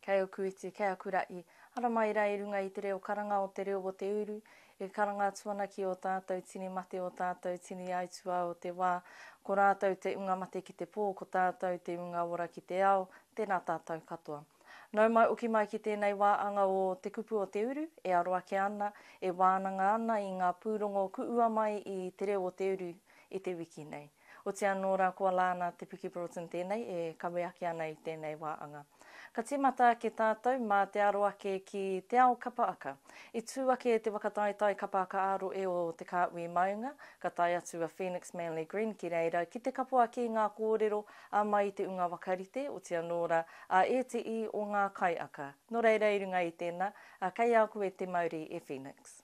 Kei oku iti, kei aku ra i. Haramai ra i runga i te reo karanga o te reo o te uru, e karanga atu ana ki o tatou tini mate o tatou tini aitua o te wa, ko ratou te unga mate ki te po, ko tatou te unga ora ki te ao, tena tatou katoa. Nau mai oki mai ki tēnei wā anga o Te Kupu o Te Uru e aro ake ana, e wānanga ana i ngā pūrongo kuua mai i Te Reo o Te Uru i te wiki nei. Oti anō rā kua Lana Te Piki Broughton tēnei e kawe ake ana i tēnei wā anga. Ka tīmata ake tātou mā te aro ake ki Te Ao Kapa Aka. I tū ake te whakataetae kapa aka ā-rohe o Te Kāhui Maunga, ka tae atu a Phoenix Manley Green ki reira ki te kapo ake i ngā kōrero a mai i te unga wakarite, oti anō rā, a ēteī o ngā kaiaka. Nō reira, i runga i tēnā, kei a koe te mauri e Phoenix.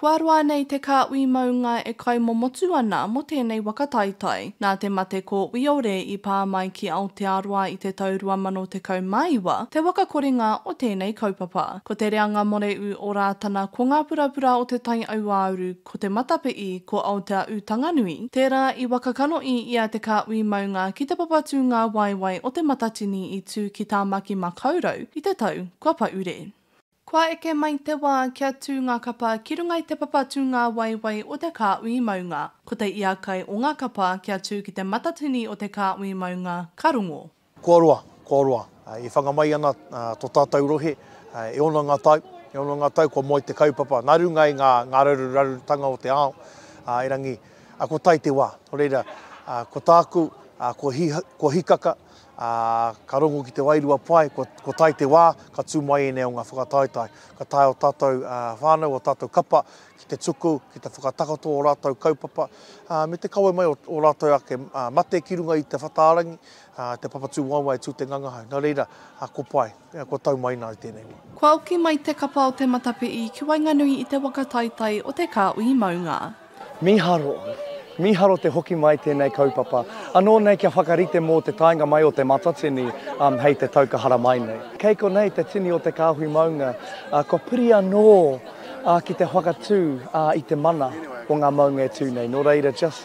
Kua roa nei te kāhui maunga e kaimomotu ana mō tēnei waka taetae. Nā te mate ko Wiore i pā mai ki Aotearoa i te tau 2019 te waka korenga o tēnei kaupapa. Ko te reanga moreū o Rātana ko ngā purapura o te taiauāuru, ko te matapiʻi, ko Aotea Ūtanganui, tērā i waka kanohi i a te kāhui maunga ki te papatūnga waewae o Te Matatini i tū ki Tāmaki Makaurau i te tau kua pahure. Kua eke mai te wā kia tū ngā kapa ki runga i te papa tūngāwaiwai o te kāhui maunga. Ko te iakai o ngā kapa kia tū ki te matatini o te kāhui maunga ka rongo. Kua roa, kua roa, e whanga mai ana tō tātou rohe, e ono ngā tau, e ono ngā tau kua moe te kaupapa nā runga i ngā rarurarurutanga o te ao, erangi, ko tai te wā. Nō reira, ko tāku, kua hikaka, ā, ka rongo ki te wairua pai, kua, kua tae te wā, ka tū mai ēnei o ngā whakataetae. Ka tae ō tātou ā, whānau, ō tātou kapa ki te tuku, ki te whakatakoto ō rātou kaupapa, ā, me te kawe mai o ō rātou ake mate ki runga i te whataārangi, ā, te papatū waewae tū te ngangahau. Nō reira, ā, ko pai. Ea, kua tau mai nā i tēnei wā. Kua oki mai te kapa o te matapi'i ki waenganui i te waka taitai o te kāuī maunga. Mīharo, mīharo te hoki mai tēnei kaupapa. Anō nei kia whakarite mō te taenga mai o Te Matatini hei te tau ka hara mai nei. Kei konei te tini o te kāhui maunga, kua piri anō ki te whakatū i te mana o ngā maunga e tū nei. Nō reira, just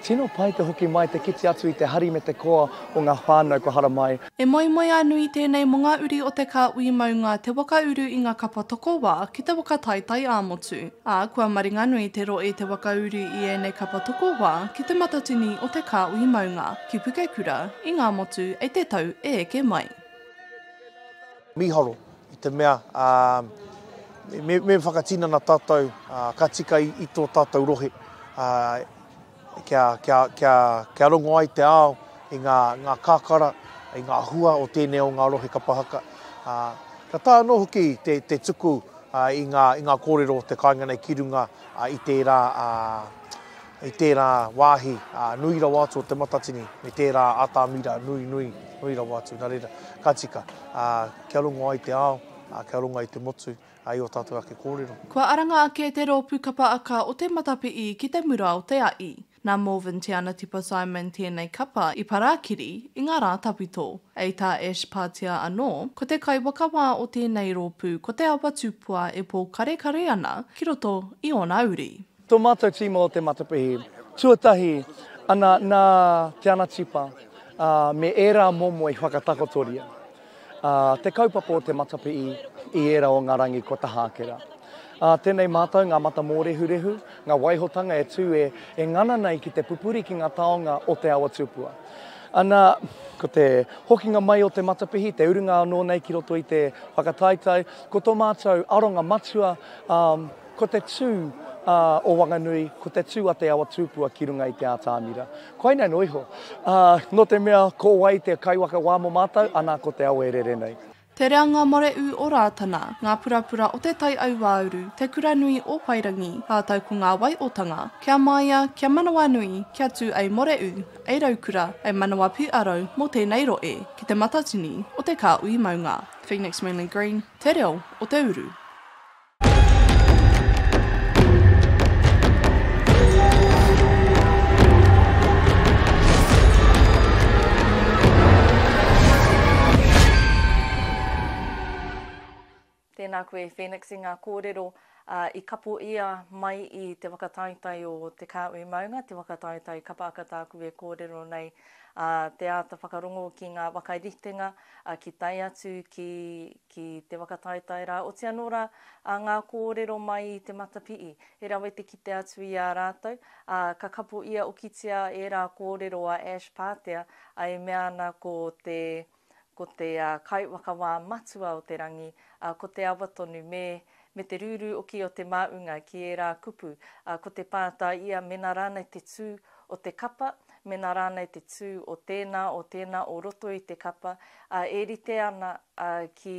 tino pai te hoki mai, te kite atu i te hari me te koa o ngā whānau kua hara mai. He moemoeā nui tēnei mō ngā uri o te kāhui maunga te waka uru i ngā kapa tokowā ki te waka taetae ā-motu, ā, kua maringanui te rohe te waka uru i ēnei kapa tokowā ki te matatini o te kāhui maunga, ki Pukekura, i Ngāmotu, e te tau e eke mai. Mīharo, i te mea, ā, me, me whakatinana tātou, ā, ka tika i, i tō tātou rohe, ā, e. kia, kia, kia, kia rongo ai te ao i ngā, ngā kakara, i ngā hua o tēnei o ngā rohe kapa haka. Ā, kia taea anō hoki te, te tuku ā, i, ngā, i ngā kōrero o te kāinga nei ki runga ā, i tērā, ā, i tērā wāhi ā, nui rawa atu o Te Matatini, me tērā atamira nui, nui, nui rawa atu, nā reira, ka tika ā, kia rongo ai te ao, ā, kia rongo ai te motu, ai ō tātou ake kōrero. Kua aranga ake te rōpū kapa aka o Te Matapi'i ki te mura o te a'i. Nā Morvin Te Anatipa Simon tēnei kapa i parakiri i ngā rā tawhito. Ei tā Ash Patia anō, ko te kaiwakawā o tēnei rōpū ko Te Awa Tupua e pōkarekare ana ki roto i ōna uri. Tō mātou tīma o Te Matapihi, tuatahi ana nā Te Anatipa me ērā momo i whakatakotoria te kaupapa o Te Matapihi i ērā o ngā rangi kua taha ake rā. Tēnei mātou ngā mata mōrehurehu, ngā waihotanga e tū e ngana nei ki te pupuri ki ngā taonga o Te Awa Tupua. Ana, ko te hokinga mai o Te Matapihi, te urunga anō nei ki roto i te whakataetae, ko tō mātou aronga matua, Ko te tū o Wanganui, ko te tū a te awa tūpua ki runga i te ātamira. Koinei noa iho. Nō te mea ko wai te kaiwaka wā mō mātou, anā ko te awa e rere nei. Te reanga mareū o Rātana, ngā purapura o Te Tai Auāuru, Te Kura Nui o Whairangi, rātou ko ngā waiotanga, kia māia, kia manawanui, kia tū ei moreū, ei raukura, ei manawa pū aro mō tēnei roe ki te matatini o te kāhui maunga. Phoenix Manly Green, Te Reo o te Uru. Tēnā koe Phoenix i ngā kōrero i kapo ia mai i te whakataetae o Te Kāhui Maunga, te whakataetae kapa aka tāku e kōrero nei, te āta whakarongo ki ngā whakaritenga ki tae atu ki ki te whakataetae rā, oti anō rā, ā, ngā kōrero mai i te matapihi, he rawe te kite atu i a rātou, ā, ka kapo ia okitia ērā kōrero a Ash Pātea, ā, e mea ana ko te, ko te kaiwhakawā matua o te rangi, ā, ko te awa tonu, me, me te rūrū oki o te māunga ki ērā kupu, ā, ko te pātā ia mēnā rānei te tū o te kapa, mēnā rānei te tū o tēnā, o tēnā o roto i te kapa, ā, e rite ana, ā, ki,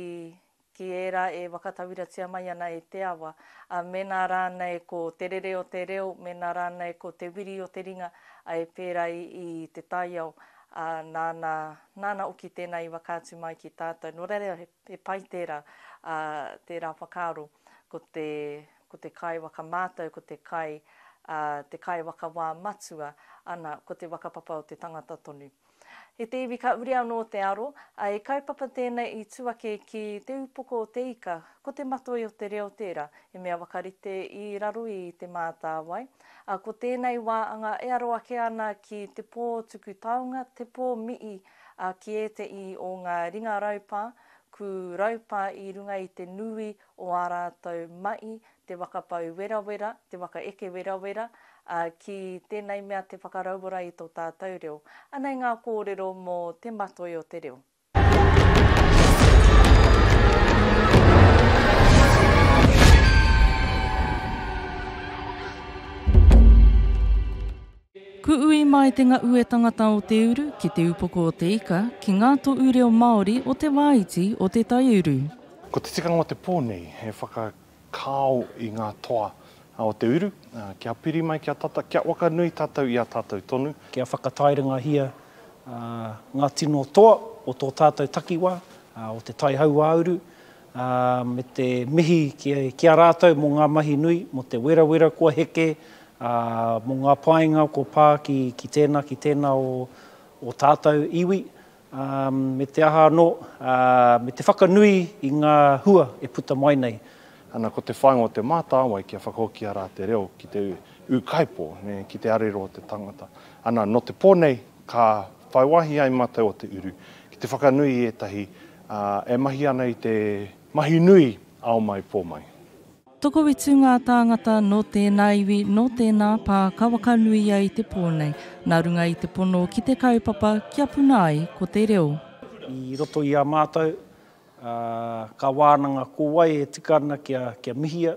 ki ērā e whakatauiratia mai ana e te awa, ā, mēnā rānei ko te rere o te reo, mēnā rānei ko te wiri o te ringa, ā, e pērā i, i te taiao, ā, nāna, nāna hoki tēnā i whakaatu mai ki tātou. Nō reira, he, he pai tērā, ā, tērā whakaaro, ko te, ko te kai whakamātau, ko te kai, ā, te kai whakawā matua, ana, ko te whakapapa o te tangata tonu. I te iwi ka uri anō te aro, ā, he kaupapa tēnei i tū ake ki te upoko o te ika, ko te matoi o te reo tērā, he mea whakarite i raro i Te Mātāwai, ā, ko tēnei wā anga e aro ake ana ki te pō tuku taonga, te pō mihi, ā, ki ētehi o ngā ringa raupā, kū raupā i runga i te nui o ā rātou mahi te whakapau werawera, te whakaeke werawera, ā, ki tēnei mea te whakarauora i tō tātou reo. Anei ngā kōrero mō te matoi o te reo. Ku ui mai te ngaue tangata o te uru ki te upoko o te ika ki ngā toʻu reo Māori o te wā iti o te taiuru. Ko te tikanga o te pō nei he whaka. Kāo i ngā toa o te uru. Kia piri mai, kia tata, kia wakanui tātou i a tātou tonu. Kia whakatairangahia ngā tino toa o tō tātou takiwā, o te tai hauāuru, me te mihi ki a rātou mō ngā mahi nui, mō te werawera kua heke, mō ngā painga kua pā ki tēnā, ki tēnā o ō tātou iwi. ā, me te aha anō, ā, me te whakanui i ngā hua e puta mai nei. Ana ko te whāinga o Te Mātāwai kia whakahokia rā te reo ki te ūkaipō, nē, ki te arero o te tangata. Ana, nō te pō nei, ka whai wāhi ai mātou o Te Uru ki te whakanui i ētahi, ā, e mahi ana i te mahi nui ao mai, pō mai. Tokoiti ngā tāngata nō tēnā iwi, nō tēnā pā ka wakanui ai te pō nei, nā runga i te pono ki te kaupapa kia puna ai ko te reo. I roto i a mātou, kā wānanga ko wai e tika ana kia mihia,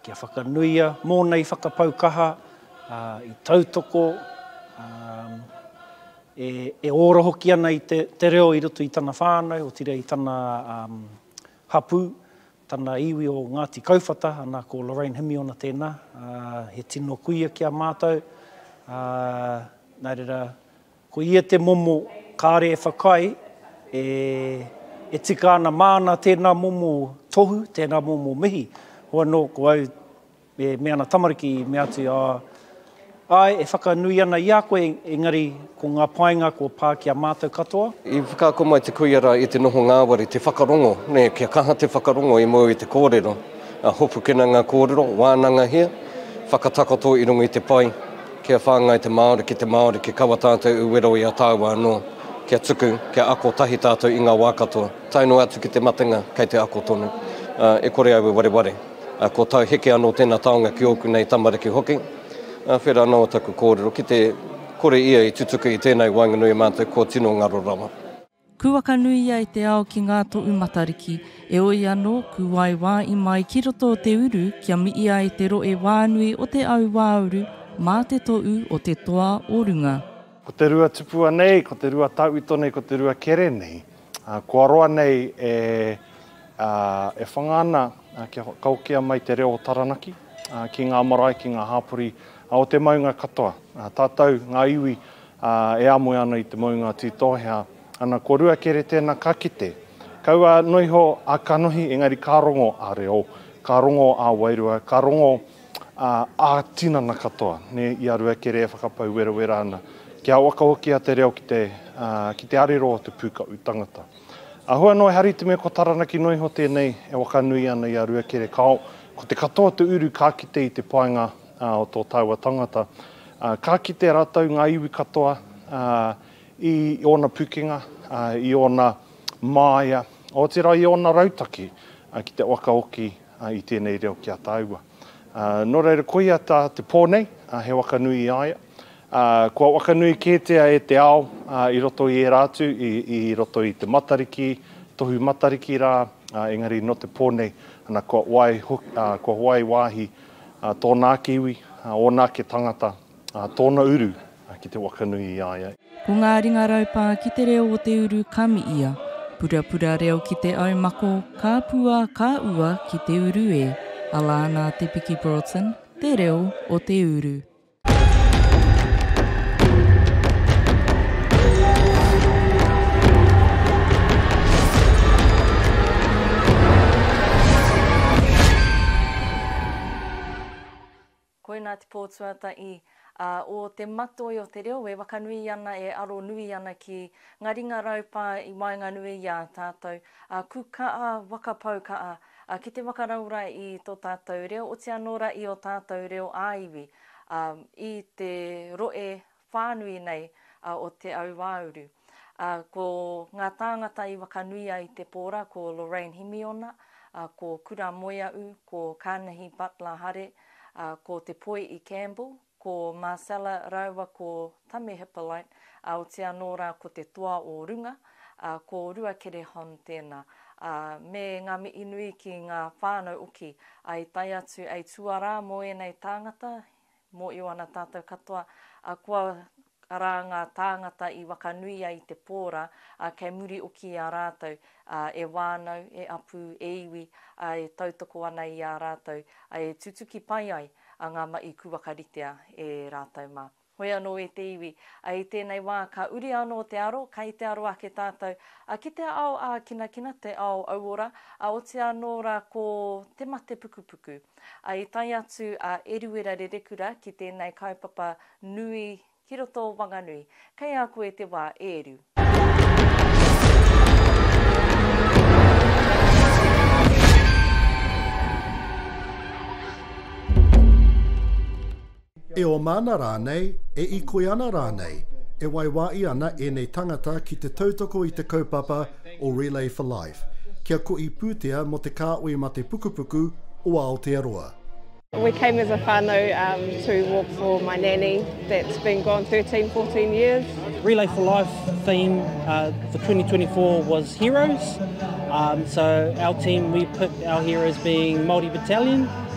kia whakanuia, mōna i whakapau kaha, i tautoko, e ora hoki ana i te reo i roto i tana whānau, otirā i tana hapū. Tana iwi o Ngāti Kauwhata, ana ko Lorraine Himiona tēnā, he tino kuia ki a mātou, ā, nā reira, ko ia te momo kāre e whakaae, e, e tika ana māna tēnā momo tohu, tēnā momo mihi, hoi anō ko au, Me mea ana tamariki, i mea atu, Ā, āe, e whakanui ana i a koe, engari ko ngā painga kua pā ki a mātou katoa. I whakaako mai te kuia rā i te noho ngāwari, te whakarongo, nē, kia kaha te whakarongo i mua i te kōrero, ā, hopukina ngā kōrero, wānangahia, whakatakoto i runga i te pai, kia whāngai te Māori ki te Māori, kia kaua tātou i wero i a tāua anō, kia tuku, kia ako tahi tātou i ngā wā katoa, tae noa atu ki te matenga, kei te ako tonu, ā, e kore au e wareware. Ko tai heke anō tēnā taonga ki ōku nei tamariki hoki. Whera anō taku kōrero ki te kore ia i tutuki i tēnei waenganui i mātou kua tino ngaro rawa. Kūakanuia e te ao ki ngā toʻu Matariki, eoi anō, kūae wāʻi mai ki roto o te uru kia miʻia e te roʻe wānui o te au wāuru mā te toʻu o te toa o runga. Ko te rua tupua nei, ko te rua tauito nei, ko te rua kere nei. Kua roa nei e whanga ana kia whakaokea mai te reo o Taranaki ki ngā marae, ki ngā hāpori o te maunga katoa. Tātou, ngā iwi e amoe ana i te maunga Tītohea, ana ko Rua Kere tēnā ka kite. Kaua noa iho a kanohi, engari ka rongo a reo, ka rongo a wairua, ka rongo ā, ā-tinana katoa, nē, i a Ruakere e whakapau werawera ana, kia waka hoki a Te Reo ki te, ā, ki te arero o te pūkaʻu tangata. Āhua noa e hari te mea ko Taranaki noa iho tēnei e wakanui ana i a Ruakere, kāo, ko te katoa o te uru ka kite i te painga, ā, o tō tāua tangata, ā, ka kite rātou, ngā iwi katoa, ā, i ōna pukenga, ā, i ōna māia, otirā i ōna rautaki, ā, ki te waka hoki, i tēnei reo ki a tāua. Nō reira, koia tā te pō nei, he waka nui i a ia. Kua waka nui kētia e te ao i roto i ērā atu, i roto i te Matariki, Tohu Matariki rā, engari nō te pō nei, ana, kua wai wāhi tōna ake iwi, ōna ake tangata, A tōna uru ki te wakanui i a ia. Ko ngā ringa raupā ki te reo o te uru ka mi ia. Purapura reo ki te au mako, ka pua, ka ua ki te uru e. Ala ana te piki Broughton, te reo o te uru. Koinā te pō tuata i a, o te matoi o te reo e wakanui ana, e aro nui ana ki nga ringa raupā i waenganui i a tātou, a, ku kaa, waka pau kaa, a, ki te wakarau ra i to tātou reo, oti anō ra i o tātou reo ā-iwi, a, i te roe whānui nei o Te Auāuru. Ko ngā tāngata i whakanui ai te pōra ko Lorraine Himiona, ko Kura Moeaʻu, ko Kanahi Butler Hare, ko Te Poiʻi Campbell, ko Marcella rāua ko Tame Hippolite, otirā anō rā ko Te Toa o Runga, ko Ruakere Hon tēnā, me ngā mihi nui ki ngā whānau oki, i tae atu hei tuarā mō ēnei tāngata, Mōio ana tātou katoa, ā, kua, arā, ngā tāngata i wakanui ai te pō rā, ā, kei muri oki i a rātou, ā, e wānau, e apu, e iwi, ā, e tautoko ana i a rātou, ā, e tutuki pai ai, ā, ngā maʻi kūwakaritea e rātou mā. Hoi anō e te iwi, ā, i tēnei wā ka uri anō te aro, kai te aro ake tātou, ā, ki te ao ākinakina, te ao auora, ā, otirā anō rā ko te mate pukupuku. Ā, i tae atu a Eruera Rerekura ki tēnei kaupapa nui ki roto o Wanganui. Kei a koe te wā, e Eru. E oma ana rānei, e ikoi ana rānei, e waiwāi ana ēnei tangata ki te tautoko i te kaupapa o Relay for Life, kia koi pūtea mō te kāoi mate pukupuku o Aotearoa. We came as a whanau to walk for my nanny that's been gone thirteen, fourteen years. Relay for Life theme for twenty twenty four was heroes, so our team we picked our heroes being Māori Battalion.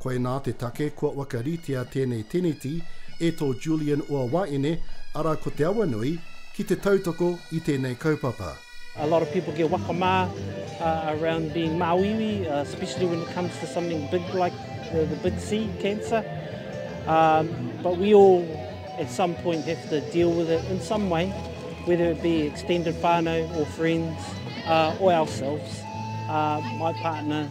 Koinā te take kua wakaritea tēnei teneti e tō Julian Uawaene, arā ko Te Awanui, ki te tautoko i tēnei kaupapa. A lot of people get waka ma around being māuiui, especially when it comes to something big like the big C, cancer. But we all at some point have to deal with it in some way, whether it be extended whānau or friends or ourselves. My partner,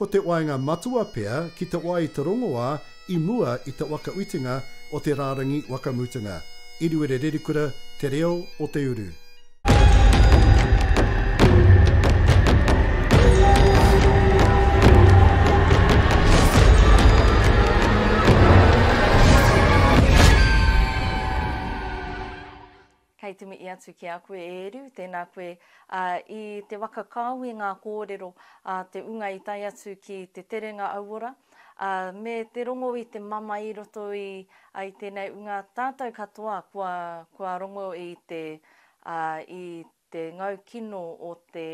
Ko te waenga matua pea ki te wā i te rongoā i mua i te waka whitinga o te rārangi waka mutunga. Iriwere Rerikura, Te Reo o te Uru. Kei te mihi atu ki a koe, e Eru, tēnā koe. Ā, i te waka kāo i ngā kōrero a te ūnga i tae atu ki te terenga auora, ā, me te rongo i te mamae i roto i, ā, i tēnei ūnga, tātou katoa kua, kua rongo i te, ā, i te ngau kino o te.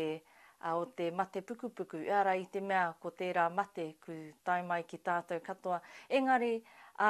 ā, o te mate pukupuku, ārai i te mea ko tērā mate ku tae mai ki tātou katoa, engari, ā,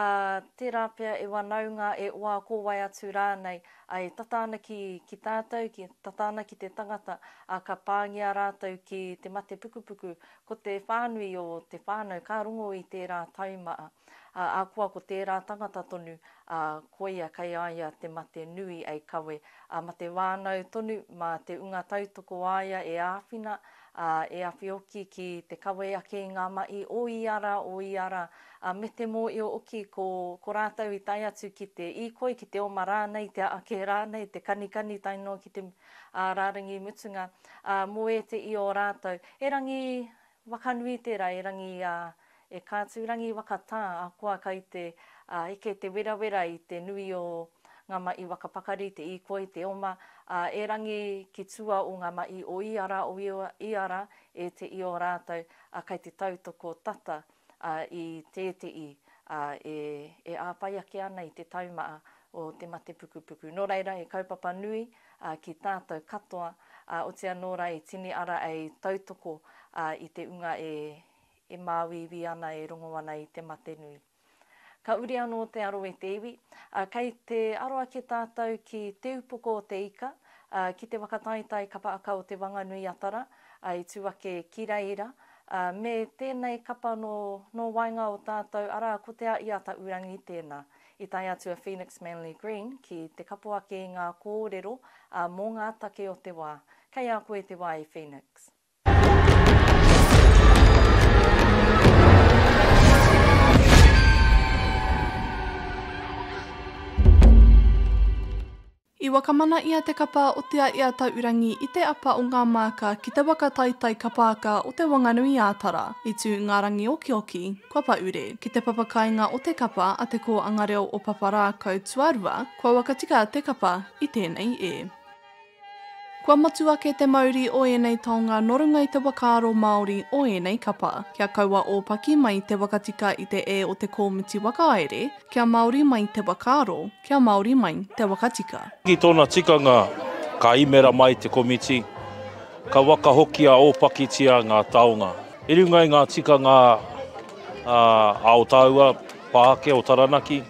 tērā pea e wanaunga, e oā ko wai atu rānei, ā, e tata ana ki, ki tātou, ki, tata ana ki te tangata, ā, ka pāngia rātou ki te mate pukupuku, ko te whānui o te whānau ka rongo i tērā taumaa, ā, ahakoa ko tērā tangata tonu, ā, koia kei a ia te mate nui ei kawe, ā, ma te wānau tonu, ma te unga tautoko a ia e āwhina, ā, e awhi oki ki te kawe ake i ngā mahi o ia ra, o ia ra, ā, me te mōio oki ko, ko rātou i tae atu ki te īkoi, ki te oma rānei, te aake rānei, te kanikani tae noa ki te, ā, rārangi mutunga, ā, mō ēteʻi o rātou, erangi, Wakanui tera e Rangi a e Kātūrangi waka tā a koa kai te a eke te werawera i te nui o nga maʻi waka pakari te īkoi te oma a e Rangi ki tua o nga maʻi o i ara o i ara e te i o rātou a kai te tautoko tata a i tēteʻi a e e āpai ake ana i te taumaa o te matepukupuku no reira he kaupapa nui ā, ki tātou katoa, ā, oti anō rā e tini ara e tautoko, ā, i te unga e, e māuiui ana, e rongo ana i te mate nui. Ka uri anō te aro e te iwi, ā, kei te aro ake tātou ki Te Upoko o te Ika, ā, ki te whakataetae kapa aka o Te Whanganui-a-Tara, ā, i tū ake ki reira, ā, me tēnei kapa nō, nō waenga o tātou, arā, ko Te Āʻi-a-Taʻurangi tēnā. I tae atu a Phoenix Manly Green ki te kapo ake i ngā kōrero mō ngā take o te wā. Kei a koe te wā e Phoenix. I wakamana ia te kapa o Te Aea Taurangi i te apa o ngā māka ki te waka taitai kapaaka o Te Wanganui-ā-Tara, i tū ngā rangi okioki, kua pahure, ki te papakāinga o te kapa a Te Kōanga Reo o Paparākau tuarua, kua wakatika te kapa i tēnei e. Kua motu ake te mauri o ēnei taonga nō runga i te whakaaro Māori o ēnei kapa, kia kaua ōpaki mai te wakatika i te e o te kōmiti whakahaere, kia Māori mai te whakaaro, Kia Māori mai te waka tika. Ki tōna tikanga, ka imera mai te komiti, ka waka hoki a ōpakitia ngā taonga. I runga i ngā tikanga a o tāua pā ake o Taranaki,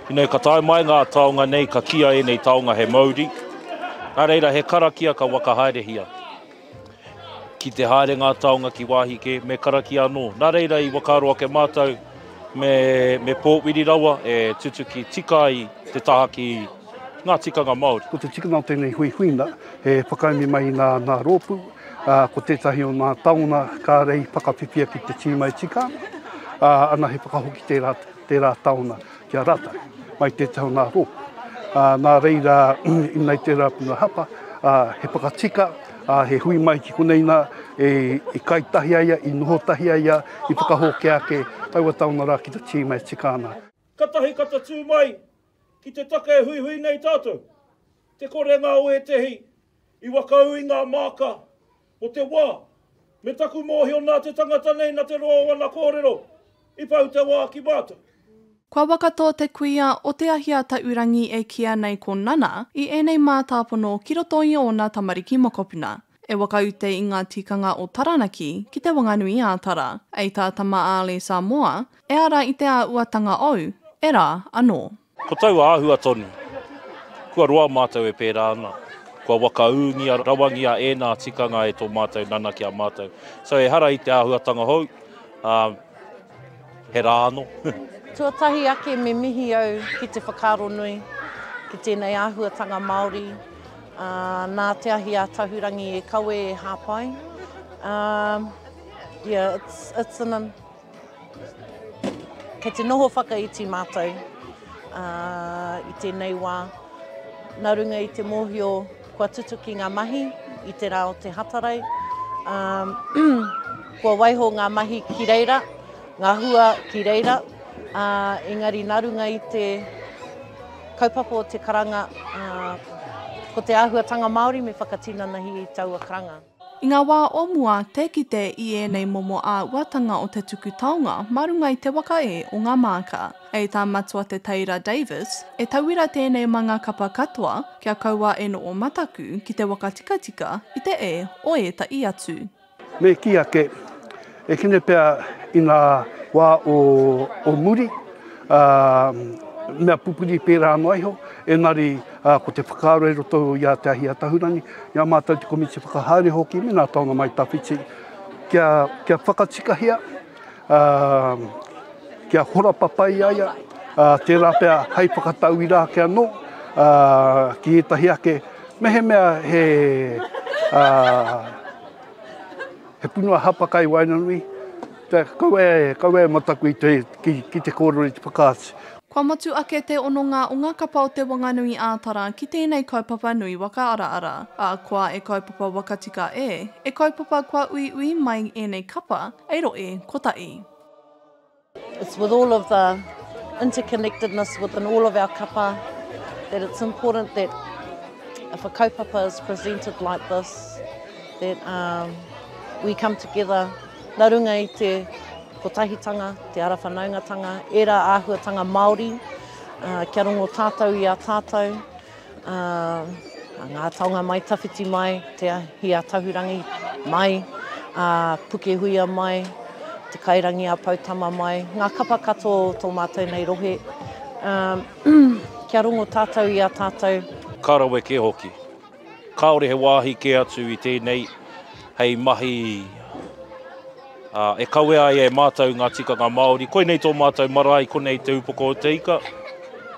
ina ka tae mai ngā taonga nei ka kīa ēnei taonga he mauri, nā reira he karakia ka waka haerehia. Ki te haere ngā taonga ki wāhi kē, me karakia anō. Nā reira i whakaaro ake mātou me, me pōwhiri rawa e tutuki tika ai te taha ki ngā tikanga Māori. Ko te tikanga o tēnei huihuina e whakaemi mai i ngā, ngā rōpū, ā, ko tētahi o ngā taonga kāore i whakawhiwhia ki te tīma e tika ana, ā, ana he whakahoki tērā, tērā taonga. ki a rātou, mai tētahi o ngā rōpū. Ā, nā reira, ina i tērā puna hapa, ā, he whakatika, ā, he hui mai ki konei nā, e, i kai tahi ai ia, i noho tahi ai ia, i whakahōkea ake taua taonga rā ki te tīma e tika ana. Katahi ka tatū mai ki te take e huihui nei tātou, te korenga o ētehi i whakaū i ngā māka o te wā. Me taku mōhio nā te tangata nei na te roa o ana kōrero i pau te wā ki mātou. Kua wakato te kuia o Te Ahiataurangi e kīa nei ko Nana i ēnei mātāpono ki roto i ōna tamariki mokopuna. E whakaute i ngā tikanga o Taranaki ki Te Wanganui ā Tara, ei tā Tama Ālee Samoa, e ara i te āuatanga ou, e rā anō. Ko taua āhua tonu, kua roa mātou e pērā ana, kua wakaūngia rawangia ēnā tikanga e tō mātou nana ki a mātou. So ehara i te āhuatanga hou, ā, he rā anō. Tuatahi ake me mihi au ki te whakaaro nui, ki tēnei āhuatanga Māori, ā, nā te ahi a Tahurangi e kawe e hāpai, ā, yeah, it's, it's an, Kei te noho whakaiti mātou i tēnei wā nā runga i te mōhio kua tutuki ngā mahi i te rā o te Hatarai. Kua waiho ngā mahi ki reira, ngā hua ki reira, engari nā runga i te kaupapa o te karanga, ko te āhuatanga Māori me whakatinanahi i taua karanga. I ngā wā o mua, tē kite i ēnei momo āhuatanga o te tuku taonga mā runga i te waka ē o ngā māka. Hei tā Matua Te Teira Davis, e tauira tēnei mā ngā kapa katoa kia kaua e noho mataku ki te waka tikatika i te ē o ētahi atu. Me kī ake, E kīne pea i ngā wā o muri, mea pupuri pērā noa iho, engari ko te whakaaro i roto i a Te Ahi Atahurangi, i a mātou te komiti whakahaere hoki me ngā taonga mai tawhiti, kia whakatikahia, kia hora papai a ia, tērā pea hei whakatauira ake anō ki ētahi ake, mehemea he. He punua hapa kai waenganui, kaua e, kaua e mataku i te, ki, ki te kōrero i te whakaatu. Kua motu ake te hononga o ngā kapa o Te Wanganui ā Tara ki tēnei kaupapa nui waka araara, ā, koa e kaupapa wakatika e, e kaupapa kua uiui mai ēnei kapa, ei roe, kotahi. It's with all of the interconnectedness within all of our kapa that it's important that if a kaupapa is presented like this, that um, we come together nā runga i te kotahitanga, te ara whanaungatanga, era āhuatanga Māori, uh, kia rongo tātou i a tātou, A nga taonga mai tawhiti mai te ahi a Tahurangi mai, a Pukehuia mai, te kairangi a Poutama mai, nga kapa kato o to matou nei rohe, a kia rongo tatou i a tatou. Ka rawe ke hoki. Kaore he wahi ke atu i tenei hei mahi. Ā, e kawea ai e Mātou ngā tikanga Māori, koinei tō Mātou marae, konei te upoko o te ika,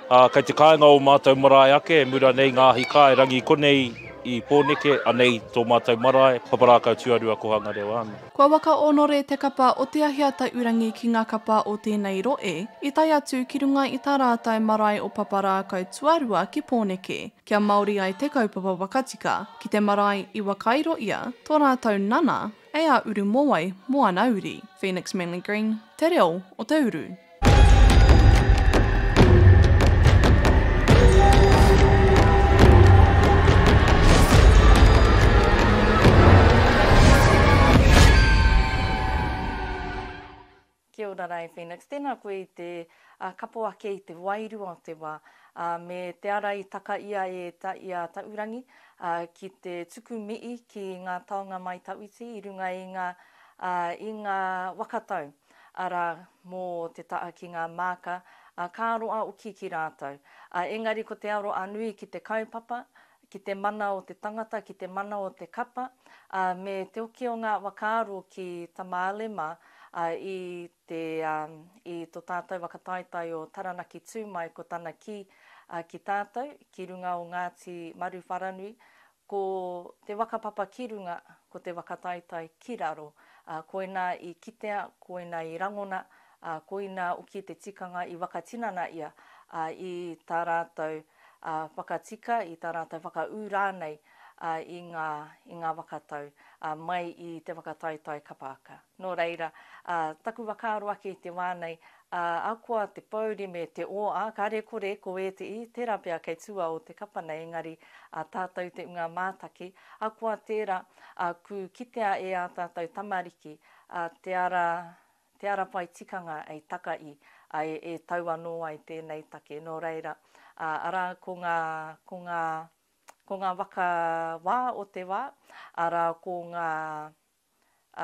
ā, kei te kāinga o Mātou marae ake, e mura nei ngā ahi kāe, rangi konei i Pōneke, anei tō Mātou marae, Paparākau Tuarua Kohanga Reo Āmi. Kua whakaonore te kapa o Te Ahi a Taurangi ki ngā kapa o tēnei roe, i tae atu ki runga i tā rātou marae o Paparākau Tuarua ki Pōneke, kia Māori ai te kaupapa wakatika, ki te marae i wakairo ia, tō rātou nana, Hei a Uru Mowai, Moana Uri. Phoenix Manly Green, Te Reo o te Uru. Kia ora rae Phoenix, tēnā koe i te kapo ake i te wairua o te wā me te ara i taka ia e i a Taurangi ki te tuku mihi ki ngā taonga mai Tawhiti i runga i ngā waka tau ara mō te taha ki ngā māka ka roa oki ki rātou. Engari ko te aro a Nui ki te kaupapa ki te mana o te tangata, ki te mana o te kapa, ā, me te oki o ngā whakaaro ki Tamale mā, ā, i te, ā, i tō tātou waka taetae o Taranaki tū mai ko tana kī, ā, ki tātou, ki runga o Ngāti Maruwharanui, ko te waka papa ki runga, ko te waka taetae ki raro, ā, koinā i kitea, koinā i rangona, ā, koinā oki te tikanga i waka tinana ia, ā, i tā rātou. ā, whakatika i tā rātou whakaū rānei i ngā, i ngā waka tau, ā, mai i te whakataetae kapa aka. Nō reira, ā, taku whakaaro ake i te wā nei, ā, ahakoa te pōuri me te ō, ā, kāre e kore, ko ēteī, tērā pea kei tua o te kapa nei, engari, ā, tātou te unga mātaki, ahakoa tērā, ā, kū kitea e ā tātou tamariki, ā, te ara, Te ara pai tikanga ei taka i, a e, e tau anō ai tēnei take. Nō reira, ā, arā, ko ngā, ko ngā, ko ngā waka wā o te wā, arā, ko ngā,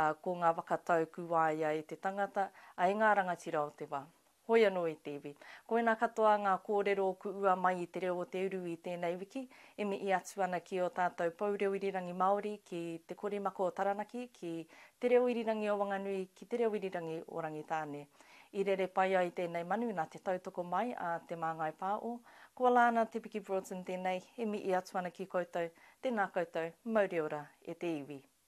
ā, ko ngā waka tau kū waia e te tangata, ā, e ngā rangatira o te wā. Hoi anō i te iwi. Koinā katoa ngā kōrero o kuua mai i te reo o te uru i tēnei wiki, e mihi atu ana ki ō tātou Pou Reo Irirangi Māori, ki Te Korimako o Taranaki, ki Te Reo Irirangi o Wanganui, ki Te Reo Irirangi o Rangitāne. I rere pai ai tēnei manu nā te tautoko mai a Te Māngai Pā o, koalā ana Te Piki Broughton tēnei, e mihi atu ana ki koutou, tēnā koutou, mauri ora e te iwi.